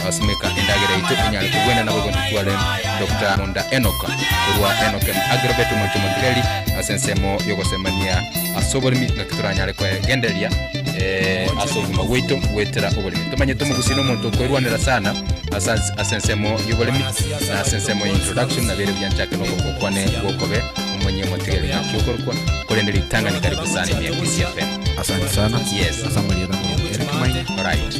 Abasimeka endagera yaito enyare kogwena nabo igo ntitware Dr. Monda Enock korwa Enock and Agrobet omonto omotigari ase ensemo y'ogosemania ase oboremi ng'aki toranyare kwegendereria eh, ase obogima bwaito goetera oboremi tomanyete omogusi na omonto okoerwanera sana ase ase ensemo y'oboremi na ase ensemo ya introduction nabere buya nchake nogokwane gokobe omonye omotigari ng'aki okorokwa korende ritang'ani karibu sana emiaka isi FM Asante sana. Yes. Asa marieta mwa Eric Maina. Alright.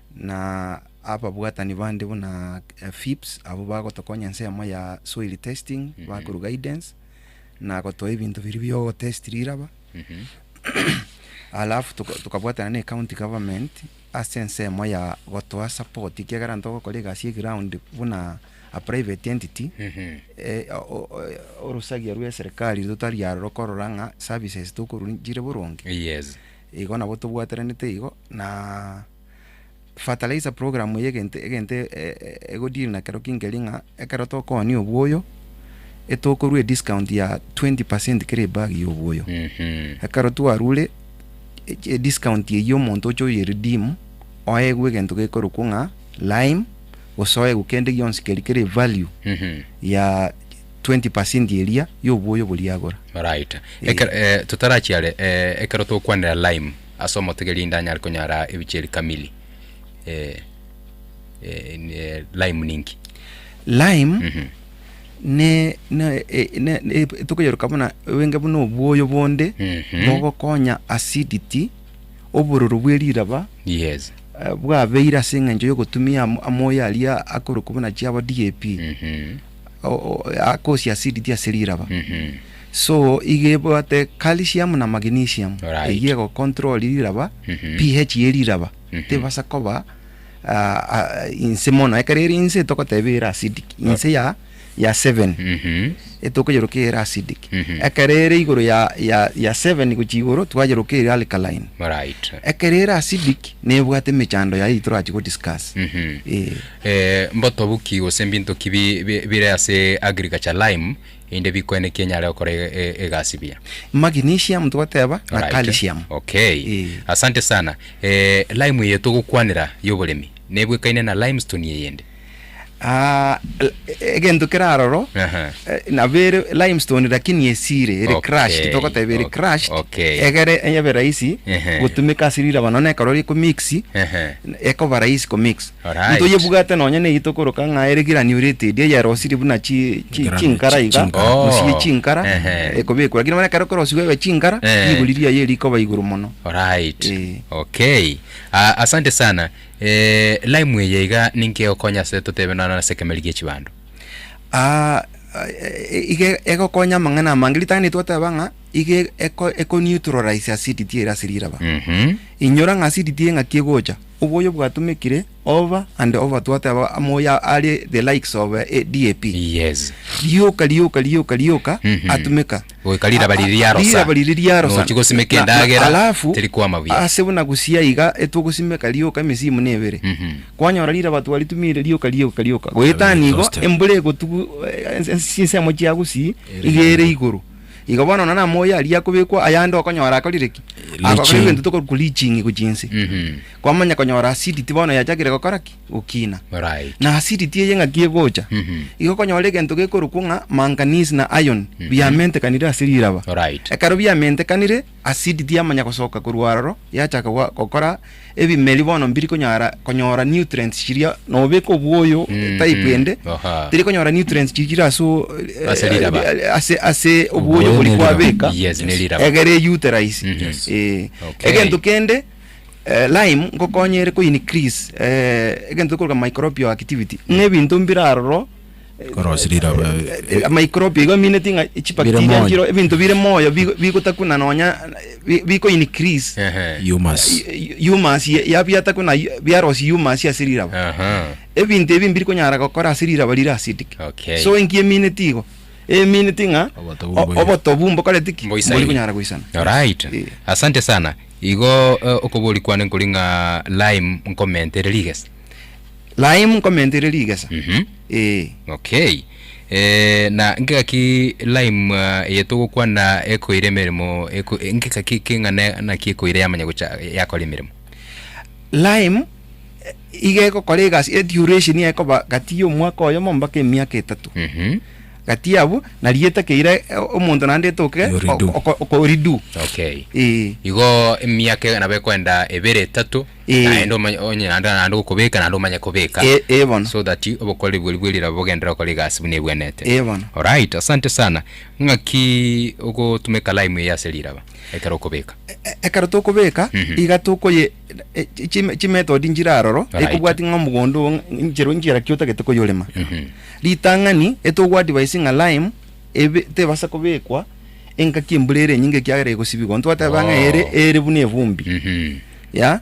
na ababwatani bande buna Phipps abwo bagotokonya ensemo ya soil testing bakorwa guidance na gotoa ebinto biria biogotest riraba alafu tuka- tukabwatana ne county government ase ensemo ya gotoa support ekiagera ntogokora egasi ya eground buna a private entity eh, o- o- o- orosagia rwa eserikari totari aro rokorora ng'a services tokorwa chire boronge yes igo nabo tobwataranete igo Na fertilizer program eye egento egento ego deal nakero kinkeri ng'a ekero tokooni obwoyo etokorwa ediscount ya 20 percent kera ebag ya obwoyo ekero twarure ediscount eyio omonto oche oye redeem oegwe egento gekorokwa ng'a lime gose oegwe kende gionsi keri kere value ya 20 percent eria ya obwoyo boria agora. Alright. Ekero eh, totarachiare eh, ekero tokwanera lime Ase omotegeria inde anyare konyara ebichiri kamili eh, eh, in, eh, lime ninki lime Mhm. ne ne e- ne- ne- e- tokoyeruka buna wenge buna obwoyo bonde Mhm. bogokonya acidity obororo bwe riraba yes eh, bwabeire ase eng'encho yogotumia amo- amoyo aria akorokwa buna chiabo DAP Mhm. o- o- akosia acidity ase riraba Mhm. So iga ebwate calcium na magnesium Right. eyio ego control riraba Mhm. pH ye riraba Mhm. tebasa koba ah, ah, inse mono ekero eri inse togoteba ere acidic inse ya ya 7 Mhm. etokoyeroka ere acidic Mhm. ekero ere igoro ya ya ya 7 gochia igoro twayeroka ere alkaline Alright. ekero ere acidic nebwate emechando yaye torachi go discuss Mhm. eh Eh, mbotobu ki gose mbinto ki bi- bi- bire ase agriculture lime Inde bikwene ki enyare gokora egasi buya? Magnesium togoteba na Alright. calcium. Okay. Eh. Asante sana. Eh, lime eye togokwanera y'oboremi nebwekaine na limestone eyende? Ah, l- egento kere aroro Aha. eh, nabo ere limestone lakini esire ere Okay, crushed togoteba ere ok- crushed okay. egere ebe rahisi Ehe. gotumeka ase riraba nonya ekero rikomix Ehe. ekoba rahisi komix Alright. Ntoyebwate nonya neyito koroka ng'a ere girani oria etedi eyerosirie buna chi- chi- Egerani chinkara chi- iga chinkara. Oh. gose ye chinkara Ehe. ekobekwa lakini bono ekero korosiwa ebe chinkara Eh. rigori riaye rikoba igoro mono Alright. Eh. Okay. Ah, asante sana. Eh, lime eye iga ninki egokonya ase totebe nonye ase ekemer gie chibando. Ah, eh, iga egokonya amang'ana amange ritang'ani twateba ng'a iga eko- ekoneutralize acidity ere ase riraba Mhm. inyora ng'a acidity ng'aki egocha Oboyo bwatomekire oba and oba twate aba amoyo are the likes of DAP. Yes. Rioka rioka rioka rioka atomeka. Goika riraba riria riarosa. Riraba riria riarosa. Nochi gosimeka endagera. Alafu teri kwama buya. Ase buna gosia iga etwogosimeka rioka emesimu nebere. Kwanyora riraba twaritumire rioka rioka rioka. Goetania igo embura egotugu ensemo chiago si iga ere igoro. Igo bono nonya namoyo aria akobekwa ayande okonyora akorire ki? Agokora Riching. ebinto tokorwa riching gochia inse. Mhm. Kwamanya konyora acidity bono yachakire gokora ki? Gokina. Alright. Na acidity eye ng'aki egocha. Mhm. Igo okonyora egento gekorokwa ng'a manganese na iron Mhm. biamentekanire ase riraba. Alright. Ekero biamentekanire Asidi tiyamanya gosoka korwa aroro, yachaka gokora ebimeri bono mbiri konyara konyora nutrients chiria nobeka obwoyo mm, type mm. ende tiri konyora nutrients chigira ase ase riraba ase ase obwoyo bori kwabeka yes ne riraba egere utilize mm -hmm. eh okay. egento kende Uh, lime ngokonye ere ko increase uh, egento koroka microbial activity mm. ne bintu mbira aroro Korosia riroba eh, amaikropi igo amineti ng'a chibacteria nchiro ebinto bire moyo bigotakuna nonya biko increase humus humus yabiatakuna biarosi humus ase riraba ebinto ebi mbiri konyara gokora ase riraba rire acidic so enki emineti igo emineti ng'a oboto bu mbokoreti ki mbori konyara goisana right eh. asante sana igo eh, okobori kwane nkori ng'a lime nkomentere rigesa Lime nkomenta ere rigesa. Mhm. Eh. Okay. Eh, na ngekaki lime ah, eye togokwana ekoire emeremo eko, eh, ngekaki keng'ana naki ekoire yamanya gocha yakora emeremo. Lime eh, iga egokora egasi e duration yaye ekoba gati ya omwaka oyomo mpaka emiaka etato. Mhm. Gati abwo nari etakeire eh, omonto naende etoke Yo redo. oko- oko- oko redo. Okay. Eh. Igo emiaka nabo ekoenda ebere etato Ee. naende omanye onye naende naende gokobeka naende omanye kobeka Ee, ee bono. so that obokoreri bweru bwe riraba bogenderere gokora egasi buna ebwenete Ee bono. alright asante sana ng'aki ogotumeka lime eye ase riraba ekero okobeka E- ekero tokobeka Mhm. iga tokoye e- chi- chime- chimethod nchire aroro Alright. ekobwatia ng'a omogondo oo ng'a- nchera nchera ki otagete koyorema Mhm. ritang'ani etogoadvise ng'a lime ebe tebasa kobekwa engaki embura ere enyinge ekiagera egosibigwa ntwateba ng'a ere Oh. ere buna evumbi Mhm. ya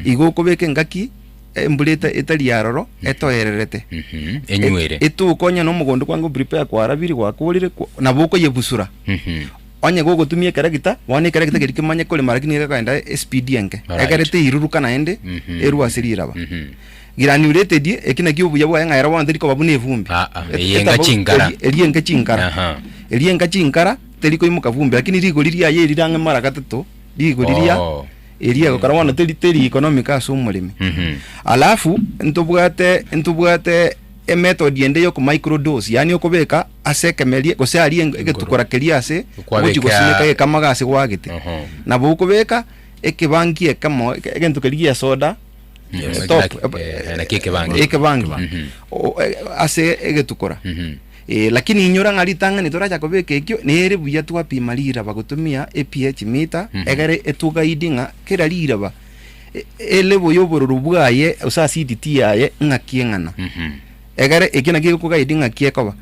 igo okobeka engaki embura eta- etari yaroro etoererete Mhm. Enywere. E- etuko onye na omogondo kwange oprepare kwarabiri gwakorire kwa- nabo okoyebusura Mhm. onye gogotumia ekeregita bono ekeregita keria kemanye korema lakini egekogenda espidi enke Alright. egere teiruruka naende Mhm. erwe ase riraba Mhm. granulated eki naki obuya bwaye ng'a ero bono teri koba buna evumbi Ah, ah, Et- eyenga etabau- chingara. eri- eri enga chingara Aha. eri enga chingara teri koimoka vumbi lakini rigori riaye eri rang'e mara gatato riiko riria Oh. eria egokora bono teri teri economic ase omoremi Mhm. alafu ntobwate ntobwate emethod ende yoko micro dose yaani okobeka ase ekemerie gose aria eng- egetukora keria ase Kwabeka- ogochi gosimeka egekamaga ase gwagete Oho. nabo okobeka ekebangi ekemo eke- egento keria gia soda Yes. eh, top, Like, eh, eh, naki ekebangi. ekebangi Mhm. O- eh, ase egetukora Mhm. Ee, lakini inyora ng'a ritang'ani toracha kobeka ekio, nere buya twapima riraba gotumia epi ye chimita, egere etugaidi ng'a kera riraba e- elebo y'obororo bwaye gose acidity yaye ng'aki eng'ana. Egere ekio nakio gekogaidi ng'aki ekoba.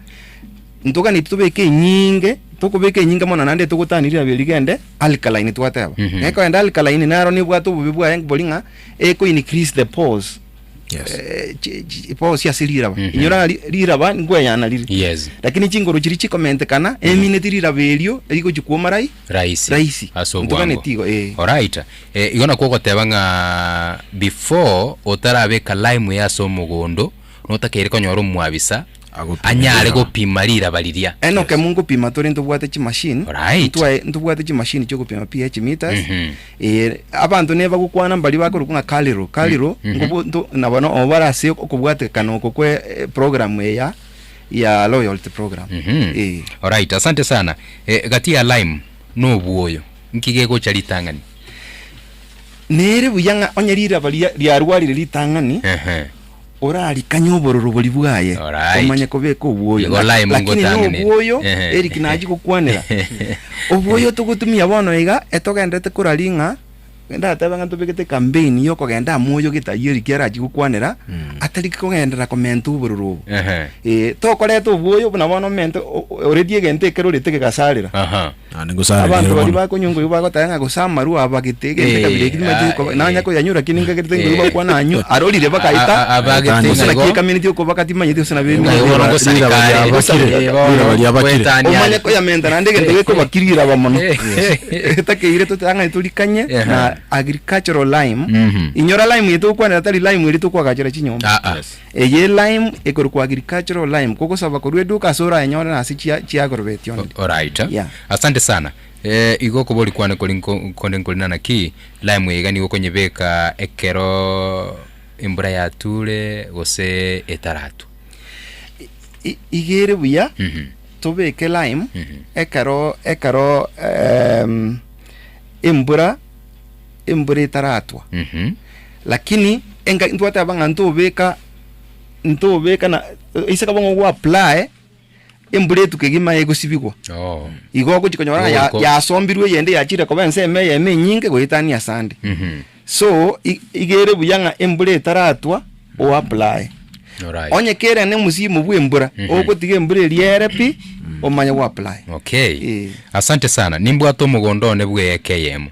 Ntoganeti tobeke enyinge, tokobeka enyinge mono naende togotania riraba erio rigende alkaline twateba. Mhm. Gekoenda alkaline naro nebwate obobe bwaye bori ng'a eko increase the pores. Yes. eh, chi- chi- bosi ase riraba Mhm. inyora ng'a ri- riraba nkweyana rire Yes. lakini chinguru chiri chikomentekana emineti riraba erio rigochi kuoma rai Rahisi. Rahisi. Ase Ntuka obwango. netigo, eh. Alright. Eh, igo nakwo ogoteba ng'a before otarabeka lime ase omogondo notakeire konyora omwabisa anyare gopima riraba riria. Enoke amo nkopima tore ntobwate chi machine. Alright. Ntwae ntobwate chi machine chio kopima pH meters. Mhm. Eh, abanto neba gokwana mbari bakorokwa ng'a Carliro. Carliro Mhm. ngobo nto nabo no obara ase okobwatekana oko kwe eh, program eya ya loyalty program. Mhm. Eh. Alright, asante sana. Eh, gati ya lime na obuoyo, nki gegocha ritang'ani? Nere buya ng'a onye riraba riria riarwarire ritang'ani, Ehe. orarikanye obororo bori bwaye, Alright. omanye kobeka obwoyo. Igo Laki- Laimu Lakini ngotang'ani. nobwoyo, Ehe. Eric nachi gokwanera. Obwoyo togotumia bono iga, etogenderete korari ng'a, ndatebe ng'a ntobegete campaign ya okogenda amo oyo getari Eric arachi gokwanera, Mm. atari kogenderera komenta obororo obo. Ehe. Eh, tokoreta obwoyo buna bono omente o- o- oreti egento ekero orete gegasarera. Aha. Naende ngosare Abanto riire baria mono. bakonywa engoigwa bagoteba ng'a gose amarwa abagete egento ekabira ekio nibache Eh, koba- nanye ah, koyanywa lakini nkagerete engoigwa eh. bagokwana anywa arorire bakaeta A- a- abagete gose ng'a naki igo. ekameneti okoboka timanyeti gose nabere Ng'a igo bono Rira- rira baria ngosareka abakire, are. Igo rira baria abakire. Gwetania omanye are. koyamenta naende egento gekobakiri iraba mono etakeire totang'ani torikanye Ehe. na agricultural lime Mhm. inyora lime eye togokwanera tari lime eri tokwagachera chinyomba Ah, ah. Eye e lime ekorokwa agricultural lime kogosaba korwa eduka ase orayenyore na ase chia chiagrobeti only. Alright. Yeah. Asante sana. Eh, igo okobori kwane kori nko konde nkori nana ki, lime eye iga nigo okonyebeka ekero embura yatule gose etaratu. I- iga ere buya Mhm. tobeke lime Mhm. ekero ekero ehm, embura embura etaratwa Mhm. lakini enga ntwateba ng'a ntobeka ntobeka na ase kaba ng'a ogwaplae embura etuko egima egosibigwa Oo. igo ogochi konyora ng'a ya- Ogoiko- yasombirwe eyende yachire koba ense ime eyemo enyinge goetania ase ande Mhm. so i- iga ere buya ng'a embura etaratwa oaplae Alright. onye kere ne omosimu bw'embura Mhm. ogotiga embura eria ere pi omanye gwaplae Okay. Eh. Asante sana. Nimbwate omogondo one bw'eeka eyemo.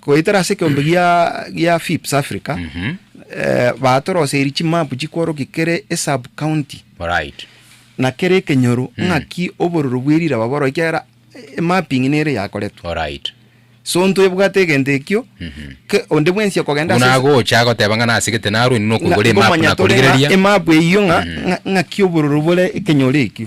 Goetera ase ekeombe gia Fips Africa, batoroseiri chimapu chikworokia kere esub-county na kere ekenyoro ng'aki obororo bwe riraba bororo ekiagera emapping nere yakoretwe. So ntwebwate egento ekio, onde bwensi okogenda ase. Buna agocha agoteba ng'a nase gete narwe inwe nokoigora emapu nakorigereria. Emapu eyio ng'a ng'aki obororo bore ekenyoro ekio.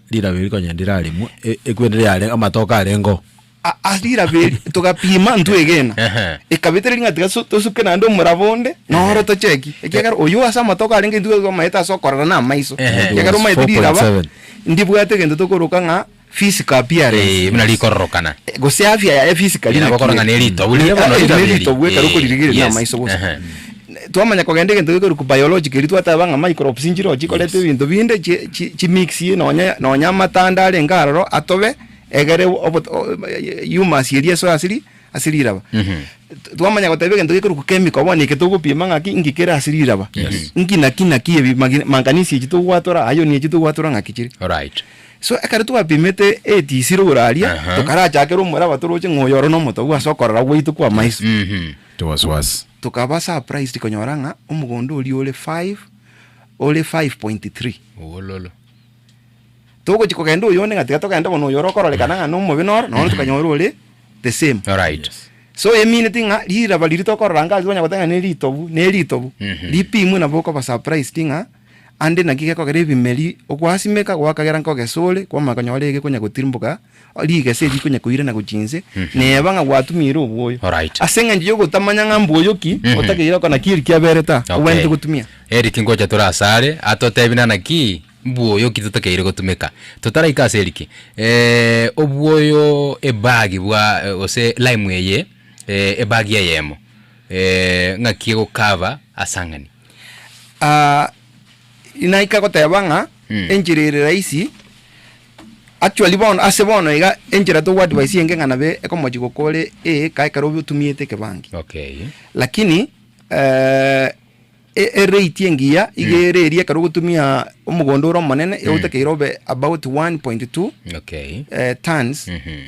Riraberi konya ndiraremwe, e- ekweri riare amatoke arengeo. A- ase riraberi togapima ntwegena Ehe. ekabete riri ng'a tiga so- tosuke naende omoraba onde noro tocheki ekiagera oyo ase amatoke arenge intwe twamaete ase okorora na amaiso Ehe. ekiagera omaete riraba 4.7. ndibwate egento tokoroka ng'a physical appearance Eh, buna rikororokana Eh, gose afya yaye physically Ina bakora ng'a neritobu, rinde bono riraberi. neritobu ekero Eh, okoririgereria yes. na amaiso bosa Ehe. Twamanya kogenda egento gekorwa biological, erio twateba ng'a microbes nchirochio chikoreta ebinto binde chi mix nonye nonye amate ande arenge aroro atobe egere humus eria esoe ase riraba. Twamanya goteba egento gekorwa chemical bono eke togopima ng'a ki nki kere ase riraba. Nki na ki na ki ebi manganisi echi togwatora, iron echi togwatora ng'aki chire. So ekero twapimete etisiro igoro aria, tokarachakera omoraba toroche ng'a oyo oro nomotobu ase okorora gwaito kw'amaiso. it was worse. Tokaba surprised konyora ng'a omogondo oria ore five, ore five point three. Owololo. Togochia kogenda oyonde ng'a tiga togende bono oyo ore okororekana ng'a nomobe noro, nonya tokanyora ore the same. Alright. Yes. So e meaned ng'a riraba riria tokorora ngaki tokonya goteba ng'a ne ritobu, ne ritobu, Mhm. ripimwe nabo okoba surprised ng'a Ande naki gekogera ebimeri ogwasimeka gwakagera nkogesore kw'amakonyo ore ege konya gotirimboka, rigese eri konya koirana gochia inse, neba ng'a gwatumiire obwoyo. Alright. Ase engencho y'ogotamanya ng'a mbwoyo ki, otakeire okona ki eri kiabeire ta, obwenerete Okay. gotumia. Eric ngocha tore asare atotebi nana ki mbwoyo ki totakeire gotumeka. Totaraika ase Eric, eh, obwoyo ebagi bwa eh, gose lime eye eh, ebagi eyemo eh, ng'aki egocover asang'ani. Ah, naika goteba ng'a Mm. enchera ere rahisi actually bono ase bono iga enchera togoadvise eye ng'ana be ekomochi gokore eeka ekero obe otumiete ekebangi Okay. lakini eh, e- erate engiya iga ere eria ekero ogotumia omogondo ore omonene iga otakeire obe about 1.2 Okay. eh, tons Mhm.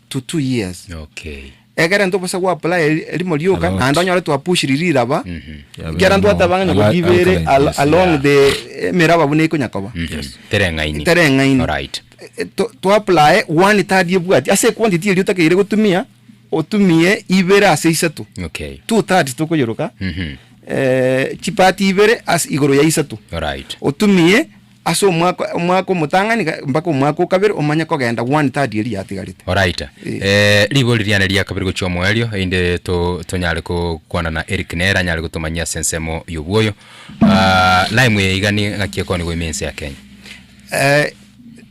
to two years Okay. egere nto bosa gwapulaya eri- erimo rioka Alot. naende onyore twapushiri riraba Yabe ekiara amo- ntwateba ng'a ala- nyakobibere alkaline, al- yes, along yeah. the emeraba buna iko nyakoba Mhm. Tereng'aini. tereng'aini Alright. E- to- twaplaye one tari ebwati ase equantity eria otakeire gotumia otumie ibere ase isato Okay. two thirds tokoyeroka Mhm. eh, chipati ibere ase igoro ya isato Alright. otumie Ase omwaka, omwaka omotang'ani ga- mpaka omwaka o kabere omanye kogenda one third eria yatigarete. Oraita. Eh. Eh, rigori riane ria kabere gochia omoerio, einde to, tonyare ko, kwana na Eric nere anyare gotomanyia ase ensemo y'obwoyo. Ah, lime eye iga ni ng'aki ekoni goimia ense ya Kenya. Eh,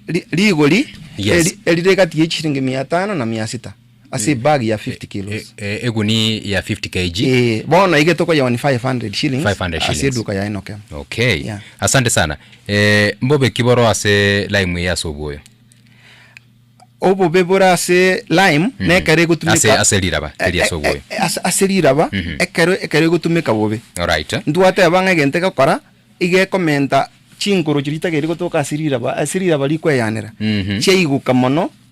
ri- rigori Yes. eri- erire egati ye chisiringi mia tano na mia sita. ase eh, ebag ya 50 eh, kilos eh, eguni ya 50 kg ee bono ige tokoyewa ni 500 shillings 500 shillings ase eduka ya enoke okay yeah. asante sana eh, mbobe kiboro ase lime ya sobuyo obobe bore ase lime mm -hmm. nekero egotumeka ase riraba eri ase oboyo ase riraba mm -hmm. ekero ekero egotumeka bobe alright ntwateba ng'a egento egokora igekomenta chinkoro chiria tageri gotoka ase riraba ase riraba rikweyanera mm -hmm. chiaiguka mono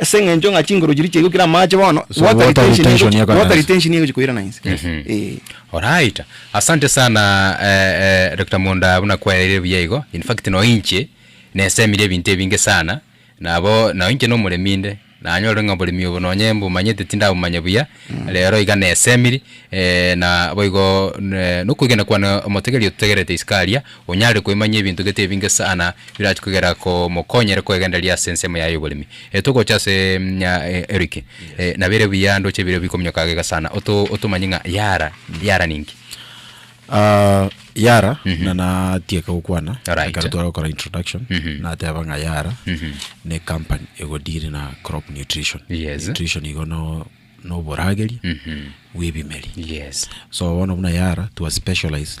Ase eng'encho ng'a chinguru chiria chiaigwa kera amache bono, So, water water retention retention egochi- ekanansa. water retention egochi koirana inse. Eh. Alright. Asante sana eh, eh, Doctor Monda buna kwaereire buya igo. In fact no inche nesemire ebinto ebinge sana. Nabo no inche nomoremi inde. Nanyorire ng'a oboremi obo nonye mbumanyete tindabumanya buya. Rero iga nesemiri eh, na boigo ne nokoigena kwane omotegeria ototegerete isiko aria. Onyare koimanyia ebinto gete ebinge sana birache kogera komokonyere kwegendereria ase ensemo yaye y'oboremi. Togocha ase Eric, nabo ere buya ndoche ebirio bikominyoka gega sana. Otomanyie ng'a Yara, Yara ninki? Yara, na natieke gokwana ekero tware gokora introduction, nateba ng'a Yara ne ecompany ego deal na crop nutrition. Nutrition igo no oborageri bw'ebimeri. So bono buna Yara twa specialize.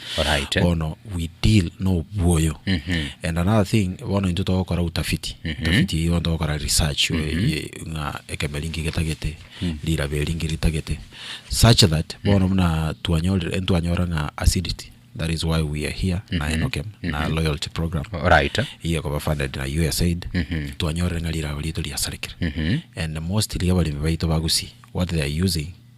Alright. bono we deal nobwoyo and another thing bono intwe togokora utafiti utafiti eye bono togokora research ye- ng'a ekemo eri nki getagete rirabe eri nki ritagete such that bono buna twanyorire ntwanyora ng'a acidity that is why we are here na enokem na loyalty program Alright. iye ekoba funded na usaid twanyorire ng'a rirago rito riasarekire and mostly abaremi baito ba gusii what they are using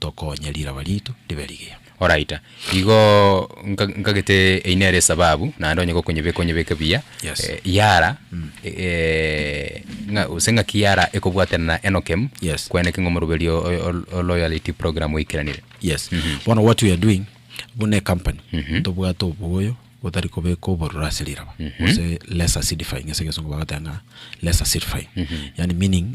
tokonya riraba riaito ribe rigiya. Alright, igo nka nkagete eyio nere esababu naende onye gokonyebeka onyebeke buya, Yes. eh, yara ng'a gose ng'aki yara ekobwatana na Enokem Yes. kweneke ng'a omoroberi o- o- ol- o loyalty program oikeranire. Yes. Bono what we are doing, buna ecompany, tobwate oboyo botari kobeka obororo ase riraba, gose less acidifying, ase egesongo bagoteba ng'a less acidifying. Yaani meaning.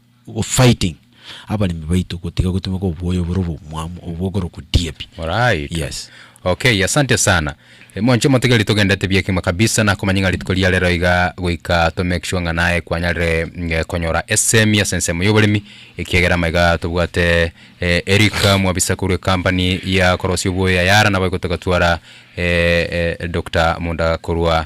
Fighting abaremi baito gotiga gotumeka oboyo bore obomwamu obwo okorokwa DAP. Alright. Yes. Okay, asante sana. Eh, Monche motigeri togendete bia kima kabisa na komanya ng'a rituko ria rero iga goika to make sure ng'a naye kwanyarire mm, eh, konyora esemi ase ensemo y'oboremi ekiagera maiga tobwate eh, Erika mwabisa korwa ekampani ya korosia oboyo ya Yara nabo igotoka twara eh, eh, Doctor Munda korwa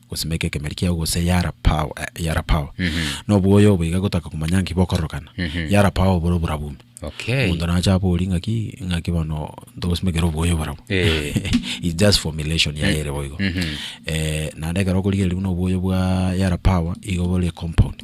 Gosimeka ekemeri kiao gose yarapao, eh, yarapao. Nobwoyo obo iga gotaka komanya nki bokororokana. Yarapao obore oborabume. Okay. Omonto nacha abori ng'aki ng'aki bono ntogosimekera obwoyo oborabu. Eh. It's just formulation yaye ere boigo. Eh, naende ekero okorigereria buna obwoyo bwa yarapao igo bore compound.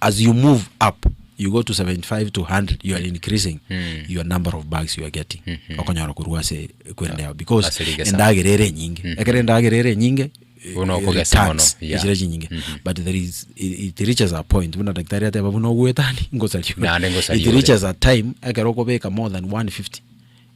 as you move up you go to 75 to 100 you are increasing Mm. your number of bags you are getting Mhm. okonyora korwa ase ekwende yao because Ase rigesa. endagera ere enyinge Mhm. ekero endagera ere enyinge eh, Buna okogesa returns, mono, yeah. echira chinyinge Mhm. but there is it, it reaches a point buna daktari ateba buna ogwetani ngosariore Naende ngosariore. it reaches a time ekero okobeka more than 150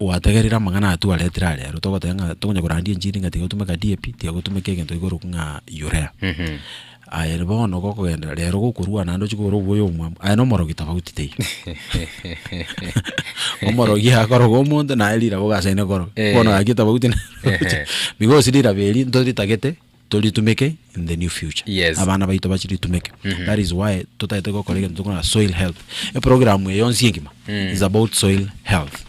Gwategerire amang'ana aya twaretire are aro, togoteba ng'a tokonya korandia enchiri ng'a tiga gotumeka DAP, tiga gotumeka egento igoro ng'a urea. Aye bono gokogenderera rero gokorua naende ochie kogora obuya omwabo, aye na omorogi tofauti teiyo. Omorogi akoroga omonto naye riragoba ase aye nekoroga, bono gaki tofauti na roche. Bigosi rirabe erio ntoritagete. Toritumeke in the new future. Yes. Abana baito bachiritumeke. That is why totagete gokora egento tokona soil health. Eprogram eye yonsi engima is about soil health.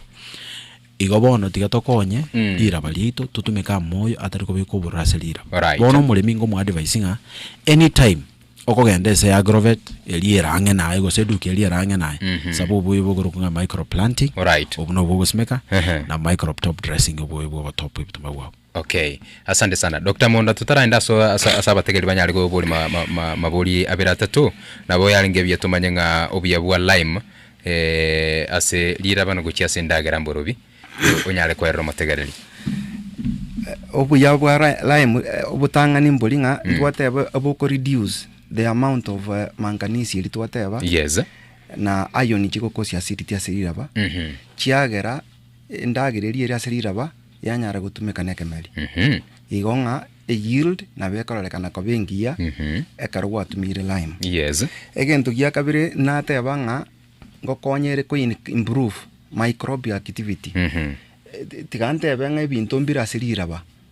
Igo bono tiga tokonye riraba riaito totumeke amoyo atari kobeka obororo ase riraba. Alright. Bono omoremi ingo mo advise ng'a anytime okogenda ase agrovet eria ere ang'e naye gose eduka eria ere ang'e naye saba obuya bokorokwa ng'a micro planting. Alright. Obwo nobwo ogosimeka Ehe. na micro top dressing obuya bwa ogotop ebituma bwabo. Okay. Asante sana. Doctor Monda tutaraenda aso asa asa abategeri banyare gobori ma, ma, ma, mabori abere atatu nabo yarenge buya tumanye ng'a obuya bwa lime eh, ase rirabana gochia ase endagera mborobi eh, onyare koerera omotegereri. obuya bwa ri- lime eh, obotang'ani mbori ng'a twateba oboko reduce the amount of eh, manganese eri twateba Yes. na iron chigokosia acidity ase riraba Mhm. chiagera Endagereria ere ase riraba yanyara gotumeka nekemeri, igo ng'a e yield nabo ekororekana koba engiya ekero gwatumire lime. Yes. Egento gia kabere nateba ng'a ngokonye ere ko improve microbial activity. Tiga ntebe ng'a ebinto mbire ase riraba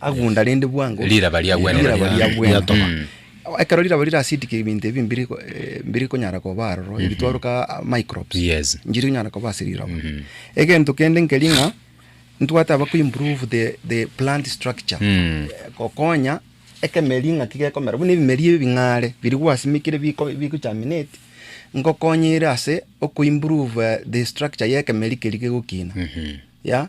agunda rende bwango Riraba ria Gwenene. riraba ria Mm. bwena Mm. ekero riraba rirasidike ebinto ebi mbiri ko- eh, mbiri konyara koba aroro ebitwaruka ah, microbes Yes. njiri konyara koba ase riraba Mhm. egento kende nkeri ng'a ntwate aba kuimprove the, the plant structure Mm. Eh, gokonya ekemeri ng'aki gekomera buna ebimeri ebi bing'are biri gwasimikire biko- bigochaminate ngokonyire ase okoimprove eh, the structure ya ekemeri keri gegokina Mhm. ya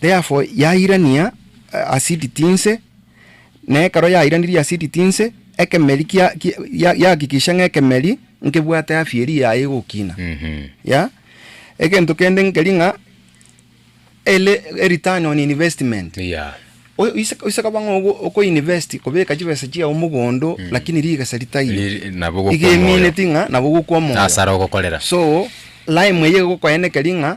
Therefore yairania asidi tinse, na ekero yairanirie asidi tinse, ekemeri kia, kia, ya- yahakikisha ng'a ekemeri nkebwate afya eria yaye egokina. Yeah? Egento kende nkeri ng'a ele a return on investment. Yeah. O- ise ise koba ng'a ogo- okoinvest kobeka chibesa chiao mogondo lakini rigesa ritaiyo, Riri- nabo iga gokwa omoyo. emineti ng'a nabo gokwa omoyo. Asara ogokorera. So lime eye egokoenekeri ng'a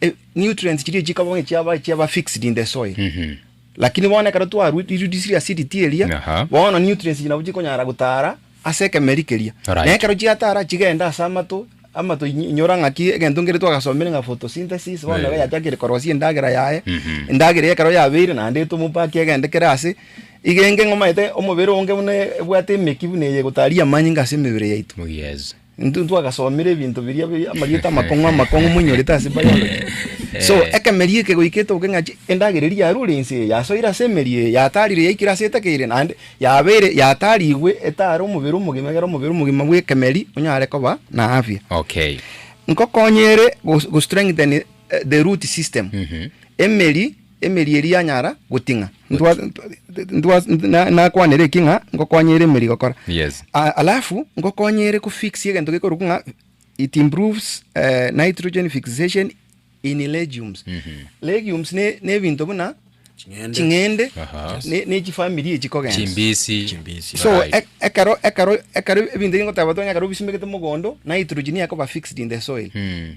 eh, nutrients chiria chikaba onye chiaba chiaba fixed in the soil Mhm. lakini bono ekero twarudisirie acidity eria Aha. bono nutrients echi nabo chikonyara gotara ase ekemeri keria Alright. na ekero chiatara chigenda ase amato amato inyo- inyora ng'aki egento nkere twagasomire ng'a photosynthesis bono nabo Eh. yachakire korosia endagera yaye Mhm. endagera ekero yabeire naende etomopaki egende kere ase igenge ng'omaete omobere onge buna ebwate emeki buna eye egotaria amanyinga ase emebere yaito Yes. Intwe ntwagasomire ebinto biria bi- amarieta amakong'u amakong'u moinyorete ase biology. So, ekemeria eke goika etoke ng'a chi- endagera eria yarure ense eye, yasoire ase emeria eye, yatarire yaikire ase etekeire naende yabeire yatarigwe etare omobere omogima egere omobere omogima bw'ekemeri onyare koba na afya. Okay. Nkokonye ere gos- gostrengthen eh, the root system, emeri. Emeri eria yanyara goting'a, nakwanere eki ng'a ngokonye ere emeri gokora. Yes. Alafu ngokonye ere kufix egento gekorokwa ng'a it improves eh, nitrogen fixation in legumes. Mhm. Legumes ne ne ebinto buna Ching'ende. ching'ende Aha. ne ne chifamiri echi kogenda. Chimbisi. Chimbisi. So Right. e- ekero ekero ekero ebinto ebi ngoteba botuko ng'a ekero obisimbegete mogondo nitrogen ekoba fixed in the soil. Mm.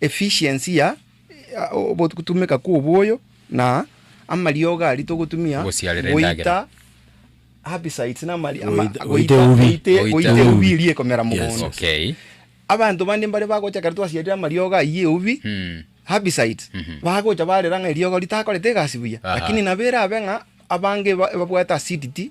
Efficiency ya ogotumeka kw'oboyo na amariogo aria togotumia Gosiarera endagera. goita herbicides na amari- ama- Goita- goita goita- ubi. goita- Goita goita ubi. eubi eria ekomera Yes, mogondo. Okay. Abanto bande mbare bagocha ekero twasiarire amariogo ayio ya eubi, Mm. herbicides, bagocha barera ng'a eriogo ritakorete egasi buya. Aha. Lakini nabo erabe ng'a abange ba- babwate acidity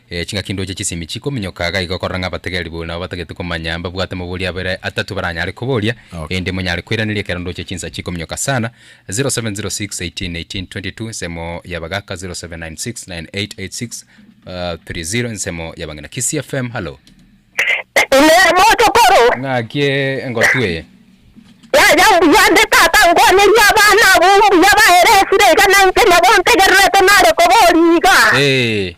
Ching'aki ndoche chisemi chikominyoka iga igo korora ng'a abategeri buna babatagete komanya mbabwate amabori abere atato baranyare koboria, erinde monyare koiraneria ekero ndoche chinsa chikominyoka sana. 0706181822 ensemo y'Abagaka 0796988630 ensemo y'Abang'ina Kisii FM, hallo. Inee motokoro? Ng'aki engotwa eye? Yaya mbuya nde tata nkwanerie abana abwo mbuya baere esire iga nainche nabo ntegererete nare koboria iga. Eeh.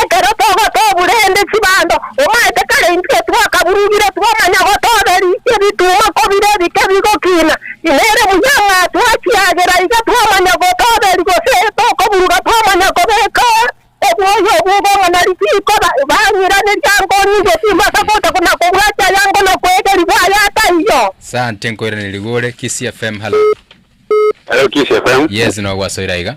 Ekero togotobura ende chibando, omaete kare intwe twakaburugire twamanya gotobe rikia rituma kobire ebike bigokina. Nere buya ng'a twachiagera iga twamanya gotoberi gose tokoburuga twamanya kobeka obwoyo obwo bong'o na risiiko bang'iraneria nkong'u gose mbasa gocha na kobwatia aya ngo na kwegerigwa aya taiyo. Sante nkoiraneria igure Kisii FM halo. Hello Kisii FM. Yes nogwasoire aiga.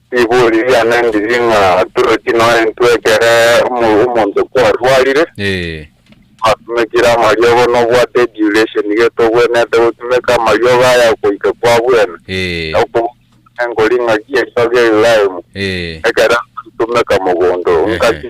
Ribori riane ndiri ng'a Dorothy norentwe ekere omonto kwarwarire, batumekire amariogo nobwate eduration getogwenerete gotumeka amariogo aya goika kwabwene na okobokigwa nenkori ng'aki eriogo eriraimu ekero ntoritomeka mogondo. Ngaki.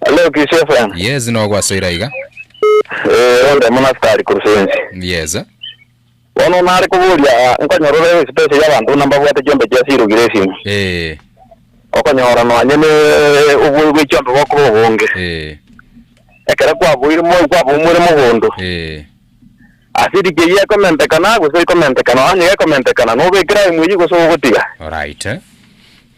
Hello Christian Fran. Yes nogwasoire aiga. Eh onde muna askari Kurusensi. Yes. Bono nare koboria nkonyorore space ya bantu buna mbabwate chiombe chia siri ogire esimu. Eh. Okonyora nonya ne obwoyo bwe chiombe bokoba obonge. Eh. Ekero kwaboire mo kwabomwire mogondo. Eh. Asiri kei ekomentekana gose ekomentekana onye ekomentekana nobekera imwe yi gose ogotiga. Alright.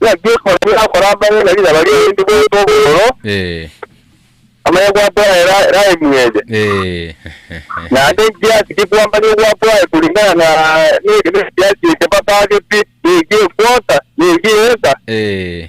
Naki ekona tirakora amang'ana riria barigetie goeta obororo, Ee. amanye gwakora era era emweje. Ee. Naende ekiasi gikwamanye gwakora kulingana na ne- nekiasi eke batageti, niki ekwota, niki eka. Ee.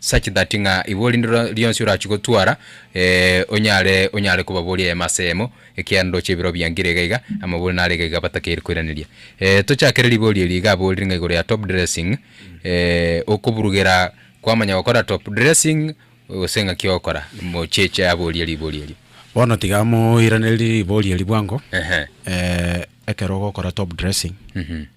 such that ng'a igo rinde ro rionsi orachie gotwara eh, onyare onyare kobaboria eyemo ase eyemo, ekiagera ndoche ebiroo biangire iga iga, amabori nare iga iga batakeire koiraneria. Eh, tochakere rigori eri iga aborire ng'a igoro ya top dressing, eh, okoburugera kwamanya gokora top dressing, gose ng'aki ogokora, mocheche aborie rigori erio. Bono tiga moiranerie rigori eri bwango, Ehe. eh, ekero ogokora top dressing, Mhm.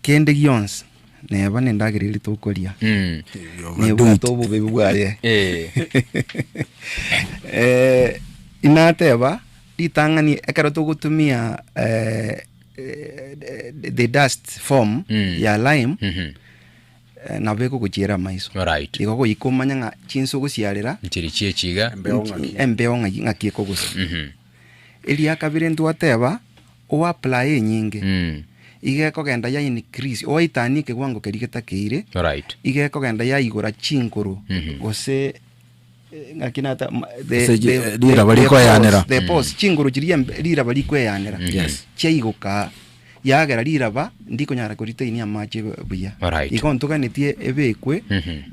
Kende gionsi neba nendagera eria tokoria, nebwate obobebi bwaye. Eh, inateba ritang'ani ekero togotumia eh, eh, the- the dust form Mm. ya lime Mhm. eh, nabo ekogochiera amaiso Alright. igo goikomanya ng'a chinse ogosiarera Nchiri chiechiga. embeo ng'aki ng'aki ekogosa Mhm. Eria kabere ntwateba, Owaplaye enyinge, iga ekogenda ya increase, owaitania ekewango keria getakeire, Alright. iga ekogenda yaigora chinkoro, gose eh, ng'aki nata, ma- the- Gose chi- the- eh, the- riraba the rikoeanera. pores, the pores, chinkoro chiria mbe- riraba rikoeanera, Yes. chiaigoka Yagera riraba ndikonyara koritainia amache buya. Alright. Igo ntoganetie ebekwe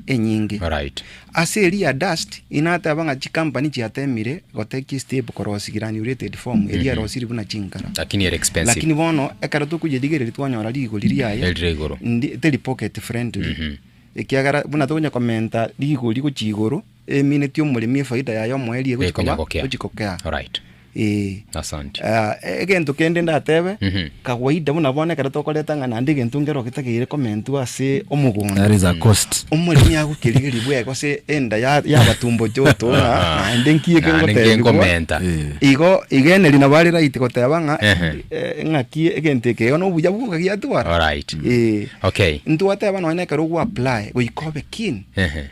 enyinge. Alright. Ase eria dust inateba ng'a chicompany chiatemire gotekia step korosi granulated form eria erosiri buna chinkara. Lakini ere expensive. Lakini bono ekero tokoyerigereria twanyora rigori riaye Erire igoro. ndi- teri pocket friendly ekiagera buna tokonya komenta rigori gochia igoro Emineti omoremi efaida yaye omoerio egochi koba Ekonyagokia. egochi gokea. Alright. Ee. Asante. Ah, e- egento kende ndatebe Mhm. kawaida buna bono ekero tokoreta ng'a naende egento nkero getagere komentwa ase omogondo That is a cost. omoremi agokerigerigwa ego ase enda ya- yabatumbo toto ng'a naende nki eke Naende nki ngotebigwa nkomenta. Eh. igo igo eneri nabo are right goteba ng'a Ehe. eh, ng'aki egento eke igo nobuya bwo okagiatwara Alright. Eh. Okay. ntwateba nonya ekero ogwa apply goika obe keen Ehe.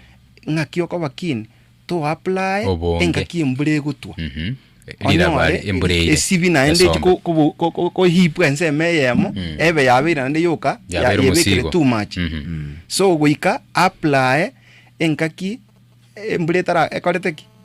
Ng'aki okoba keen toapply Obonge. engaki embura egotwa. Mhm. Riraba Onyore ari embura eire. esibĩ naende echi Esombe. ko- ko- ko- ko- kohipwa ensemo eyemo ebe yabeire naende yoka ya- Yabeire yebekire omosigo. too much. Mhm. So goika apply engaki embura etara ekorete ki?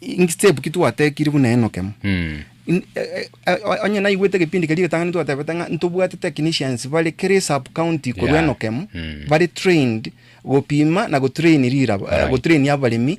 Inki step ki twatekiri buna Enoke mo? In- eh, eh, eh, onye naigwete egepindi keria egetang'ani twatebete ng'a ntobwate technicians bare kere sub county korwa Yeah. Enoke mo Mm. bare trained gopima na gotrain riraba eh, Right. gotrain abaremi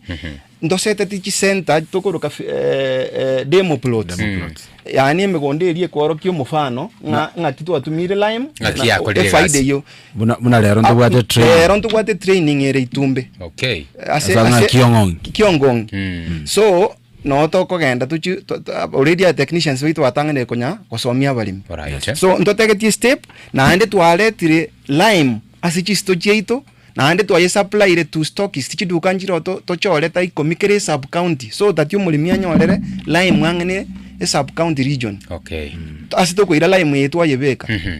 ndoseteti chisenta tokoroka fi- eh, eh, demo plots Demo plots. yaani emegondo eria ekworokia omofano ng'a ng'aki twatumire lime Ng'aki na- yakorire efaida egasi. eyio Buna, buna rero ntobwate Ah, training. rero ntobwate training ere itumbe Okay. ase Asa ng'a ase- kiong'ong'i. ki- kiong'ong'i Mm. so no tokogenda tochi to- to- already a technicians baito batang'anire konya gosomia abaremi Alright. so ntotegetie step naende twaretire lime ase chisito chiaito naende twayesuppliere to stockist chiduka nchireo to- tochore ta ikomi kera esub county so tati omoremi anyorere lime ang'ane esub county region Okay. ase tokoira lime eye twayebeka Mhm.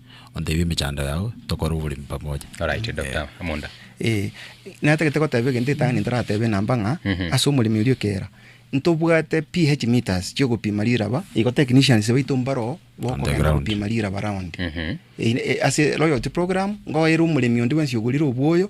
onteebie emechando yao, tokore oboremi pamoja. Oraite, Doctor Amonda. Ee, natagete goteba egento etang'ani ntoratebe enamba ng'a ase omoremi oria ekeera ntobwate PH meters chi'ogopima riraba, igo technicians baito mbaroo bokogenda Underground. gopima riraba round. Ee, ase loyalty program ngoera omoremi onde bwensi ogorire obwoyo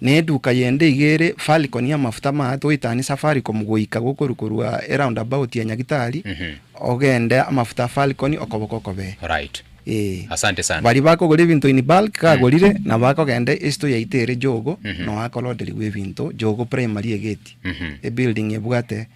Ne eduka yende iga ere Falcon y'amafuta amaya toitanie Safaricom goika gokoru korwa eroundabout ya Nyagitari ogende amafuta a Falcon okoboko okobee. Alright. Ee. Asante sana. Baria bakogora ebinto in bulk iga agorire nabo akogenda esito yaito ere Jogo noyo akoloderiwa ebinto, Jogo Primary egeti, ebuilding ebwate.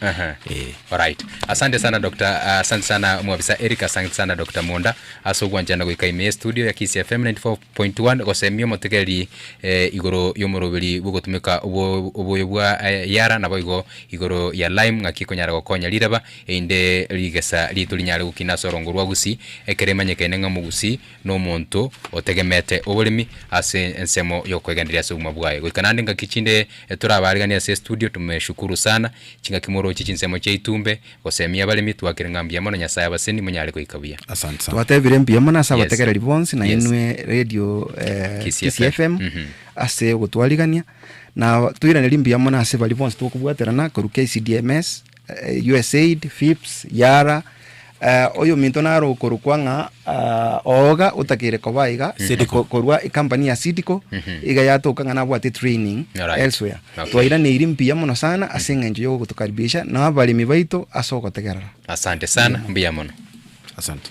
Ehe. Eh. Alright. Asante sana Dr. ah, Asante sana mwabisa Eric, asante sana Dr. Munda ase ogwanchana goika ime ye studio ya Kisi FM 94.1 gosemia omotegereri eh, igoro y'omoroberi bw'ogotumeka obo- oboyo bwa eh, Yara naboigo igoro ya Lime ng'aki ekonyara gokonya riraba einde rigesa riaito rinyare gokina ase orongo rwa Gusii ekero emanyekaine ng'a Omogusii nomonto otegemete oboremi ase ensemo yokwegenderia ase obogima bwaye goika naende ngaki chinde torabareganie ase estudio tumeshukuru sana chingaki moroche chinsemo chiaitu mbe gosemia abaremi twakire ng'a mbuya mono nyasaye abaseni monyare goika buya. Asante sana. Twatebire mbuya mono ase Yes. abategereri bonsi na Yes. inwe radio eh, Kisii Kisii FM. FM Mhm. ase ogotwarigania na toiranerie mbuya mono ase baria bonsi tokobwaterana korwa KCDMS USAID, FIPS, Yara, oyominto naro okorokwa ng'a oga otakeire koba iga Seedco korwa ecompany ya Seedco mhm. iga yatoka ng'a nabwate training right. elsewhere okay. twairaneiri mbuya mono sana ase mhm. eng'encho yogotukaribisha na abaremi baito ase ogotegerera asante sana mbuya mono asante